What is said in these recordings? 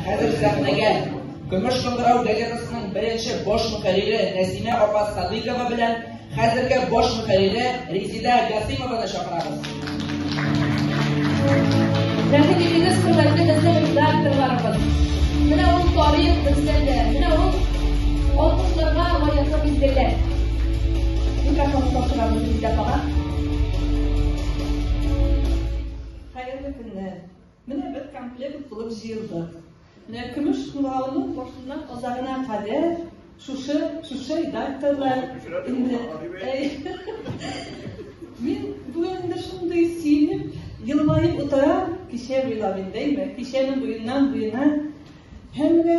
Хәзер сәхнәгә Көмеш шыңгырау газетасының беренче баш мөхәррире Нәсимә апа Садыйкова белән хәзерге баш мөхәррире Резида Гасимованы чакырабыз. Рәхим итегез, хөрмәтле безнең редакторларыбыз. Менә ул тарих бездәндә, менә ул алкышларга лаеклы билгеләр. Микрофон тапшырабыз Резида апага. Менә бер комплект булып җыелдык. Менә көмеш куралының башыннан азагына кадәр шушы шушы редакторлар инде Мин бу инде шундый сөенеп, елмаеп утырам, кичә буйлап индеме, кичәнең буеннан буена һәм дә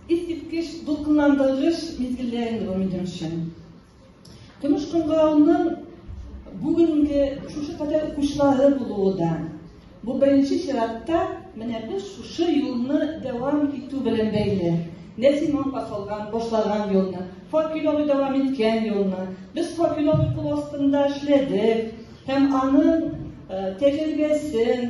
искиткеч дулкынландыргыч мизгелләр инде бу минем өчен. Көмеш кыңгырауның бүгенге шушы кадәр укучылары булуы да, бу беренче чиратта менә без шушы юлны дәвам итү белән бәйле. Нәсиман касалган, башлаган юлны, Факиловый дәвам иткән юлны, без Факиловый кул астында эшләдек һәм аның тәҗрибәсен,